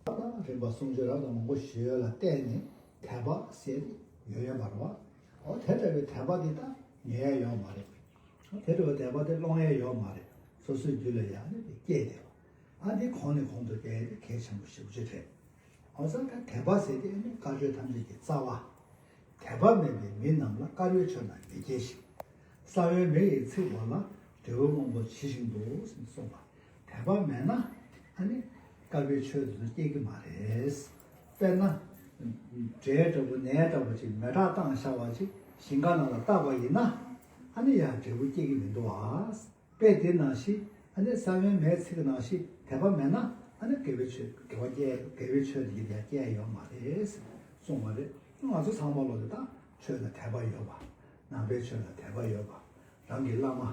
ལྟ་སྟངས་རིམ་པ་གསུམ་བརྗོད་རབས་དང་མང་པོ་ཞིག་ཡོད་ལ་བལྟས་ནས་དད་པ་སེལ་ཡོད་ཡོད་པར་བ། འོ་དེ་འདྲ་བའི་དད་པ་དེ་ད་ཉོ་ཡ་ཡོད་མ་རེད། འོ་དེ་འདྲ་བའི་དད་པ་དེ་སློང་ཡ་ཡོད་མ་རེད། སོ་སོའི་རྒྱུད་ལ་ཡང་ནི་དེ་སྐྱེས་བསྡད་པ། ཨ་དེ་གོང་ནས་གོང་དུ་བསྡད་དེ་གལ་ཆེན་པོ་ཞིག་བརྗོད་དྲན། འོ་ས་ཁ་དད་པ་ཟེར་དེ་ནི་དཀའ་སྤྱོད་ཐམས་ཅད་ཀྱི་རྩ་བ། དད་པ་མེད་པའི་མི་རྣམས་ལ་དཀའ་རོལ་ཆོད་ན་མི་སྐྱེ་ཞིང། ས་བོན་མེ་ཡི་ཚིག་བར་ལ་འབྲས་བུ་སྔོན་པོ་ཇི་བཞིན་དུ་གསུངས་པ། དད་པ་མེད་ན་ཨ་ནི་དཀར་པོའི་ཆོས་དེ་ཚོ་སྐྱེ་གི་མ་རེད། དཔེར་ན། འདྲེ་འདྲ་བོ་ནད་འདྲ་བོ་ཅིག་མེ་དྲག་སྟངས་ཤ་བ་ཅིག་ཞིང་ཁ་ནང་ལ་བཏགས་པ་ཡིན་ན། ཨ་ནི་ཡང་འབྲས་བུ་སྐྱེ་གི་མི་འདུག་ཨ། དཔེ་དེ་ནང་བཞིན་ཨ་ནི་ས་བོན་མའི་ཚིག་གི་ནང་བཞིན་དད་པ་མེད་ན་ཨ་ནི་དགེ་བའི་ཆོས་དགེ་བ་སྐྱེ་དགེ་བའི་ཆོས་དེ་ཡང་སྐྱེ་ཡོད་མ་རེད་གསུངས་བ་རེད། ང་ཚོ་ཚང་མ་བློ་དེ་དག་ཆོས་ལ་དད་པ་ཡོད་པ། ནང་པའི་ཆོས་ལ་དད་པ་ཡོད་པ། རང་གི་བླ་མ།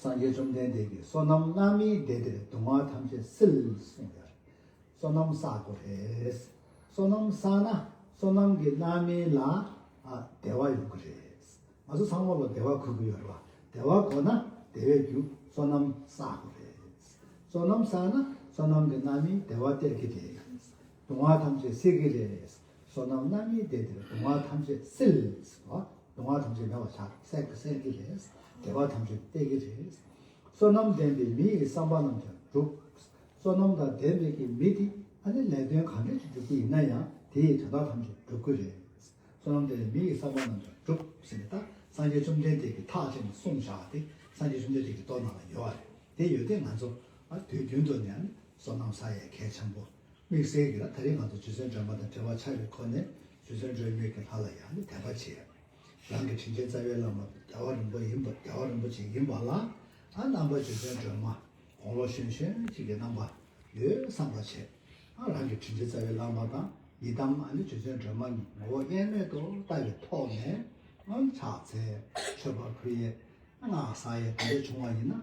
སངས་རྒྱས་བཅོམ་ལྡན་འདས་ཀྱིས་བསོད་ནམས་སྔ་མའི་སྡེ་དེར་སྡུག་བསྔལ་ཐམས་ཅད་སེལ་གསུངས་པས། བསོད་ནམས་བསག་དགོས་པས། བསོད་ནམས་བསགས་ན་བསོད་ནམས་ཀྱི་སྣ་མིན་ལ་བདེ་བ་ཡོང་གི་རེད། ང་ཚོ་ཚང་མ་ལ་བདེ་བ་གོ་གི་ཡོད་རེད་བ། བདེ་བ་གོ་ན་བདེ་བའི་རྒྱུ་བསོད་ནམས་བསག་དགོས་རེད། བསོད་ནམས་བསགས་ན་བསོད་ནམས་ཀྱི་སྣ་མིན་བདེ་བ་སྟེར་གི་རེད། སྡུག་བསྔལ་ཐམས་ཅད་སེལ་གི་རེད། བསོད་ནམས་རྣམ་གཉིས་ལྡན་དེར་གདུང་བ་ཐམས་ཅད་སེལ། གདུང་བ་ཐམས་ཅད་མེད་པར་བྱ། སྲེག་པས་སེལ་གྱི་རེད། བདེ་བ་ཐམས་ཅད་སྟེར་གྱི་རེད། བསོད་ནམས་ལྡན་པའི་མི་ཡི་བསམ་པ་རྣམས་ཀྱང་འགྲུབ། བསོད་ནམས་དང་ལྡན་པའི་གི་མི་དེ་ཨ་ནི་ལས་དོན་གང་འདྲ་ཞིག་སྒྲུབ་ཀྱི་ཡིན་ན་ཡང་དེ་ཡི་དོན་དག་ཐམས་ཅད་འགྲུབ་ཀྱི་རེད། བསོད་ནམས་ལྡན་པའི་མི་ཡི་བསམ་པ་རྣམས་ཀྱང་འགྲུབ་ཟེར་ནས་ད་སངས་རྒྱས་བཅོམ་ལྡན་འདས་ཀྱིས་ཐག་བཅད་ནས་གསུངས་བཞག་སྟེ་སངས་རྒྱས་བཅོམ་ལྡན་འདས་ཀྱི་ལྟོ་ན་ལ་ཡོད་རེད་དེ་ཡོད་དེ་ང་ཚོ་དུས་རྒྱུན་དུ་ནས་ཨ་ནི་བསོད་ནམས་ས་ཡའི་གས་ཆེན་པོ་དམིགས་བསལ་གྱིས་ན་ད་རིང་ང་ཚོ་རྗེ་བཙུན་དྲན་པ་དང་བྲལ་བ་ཆགས་ཡོད་ཁོ་ནས་རྗེ་བཙུན་སྒྲོལ་མེད་ཀྱི་ལྷ་ལ་ཡང་ནི་དད་པ་བྱས། རང་གི་དྲིན་ཅན་རྩ་བའི་བླ་མ་རྒྱལ་བ་རིན་པོ་ཡིན་པ་རྒྱལ་བ་རིན་པོ་ཆེ་ཡིན་པ་ལ་ཨ་རྣམ་པ་རྗེ་བཙུན་སྒྲོལ་མ་དགུང་ལོ་གཞོན་གཞོན་གཅིག་གི་རྣམ་པ་ཡོད་བསམ་པ་བྱས། ཨ་རང་གི་དྲིན་ཅན་རྩ་བའི་བླ་མ་དང་ཡི་དམ་ཨ་ནི་རྗེ་བཙུན་སྒྲོལ་མ་ནི་ངོ་བོ་དབྱེར་མེད་དུ་ལྟ་བའི་ཐོག་ནས་ཨ་ཕྱག་འཚལ། མཆོད་པ་ཕུལ། ཡས་ཨ་སྔགས་བསགས་ཡས་དེ་འདྲ་བྱུང་བ་ཡིན་ན་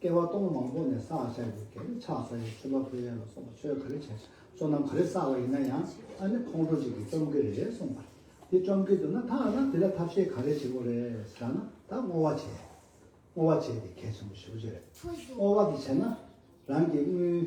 བསྐལ་བ་སྟོང་མང་པོ་ནས་བསགས་བཞག་གི་གེགས་ལས་ཆགས་ས་ཡི་ཆུ་བ་ཕོ་གཡས་ལ་སོགས་པ་ཆོས་ག་རེ་བྱས་བསོད་ནམས་ག་རེ་བསགས་པ་ཡིན་ན་ཡང་ཨ་ནི་ཁོང་ཁྲོ་གཅིག་གིས་བཅོམ་གི་རེད་གསུངས་པ། དེ་བཅོམ་གི་འདུག་ན་ད་ཨ་ན་དེ་ལ་ཐབས་ཤེས་ག་རེ་བྱེད་དགོས་རེད་ཟེར་ན་ད་བསྔོ་བ་བྱེད། བསྔོ་བ་བྱས་ཏེ་གལ་ཆེན་པོ་ཞུ་རྒྱུ་རེད། བསྔོ་བ་དེ་བྱས་ན་རང་གི་དངུལ།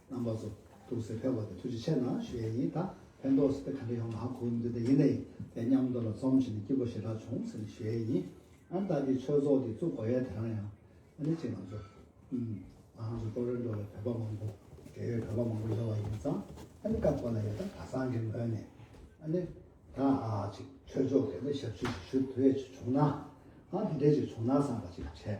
རྣམ་པ་སོ་ཐུགས་སེ་འཕེལ་བ་དེ་ཐུགས་རྗེ་ཆེ་ན་ཞུ་ཡས་ཡིན་ད་ཕན་ཐོགས་སུ་དེ་ག་འདྲ་ཡོང་ང་གོ་མི་འདུག་དེ་ཡིན་ནའི་དེ་སྙམ་མདོ་ལ་རྩོམ་བྱས་ནས་སྐྱིད་པོ་ཞེ་དྲག་བྱུང་ཟེར་ནས་ཞུ་ཡས་ཡིན་ཨང་བདག་གིས་ཆོས་ཚོགས་དེ་བཙུགས་དགོས་ཡས་དེ་རང་ཡང་ཨ་ནི་གཅིག་ང་ཚོ་ཨུམ། ང་ང་ཚོ་ཀྲོ་རེ་འགྲོ་བའི་བོད་པ་མང་པོ་འབྲེལ་ཡོད་བོད་པ་མང་པོ་ཡོད་བ་ཡིན་ཙང་ཨ་ནི་སྐབས་གོ་ན་ཡོད་ད་ག་སང་གི་ངོས་ནས་ཨ་ནི་ད་ཅིག་ཆོས་ཕྱོགས་གས་ནས་ཞབས་ཕྱི་ཞིག་ཞུ་དུས་ཡས་ཅིག་བྱུང་ན་ཨང་དེ་འདྲས་ཅིག་བྱུང་ན་བསམ་པ་ཅིག་བྱས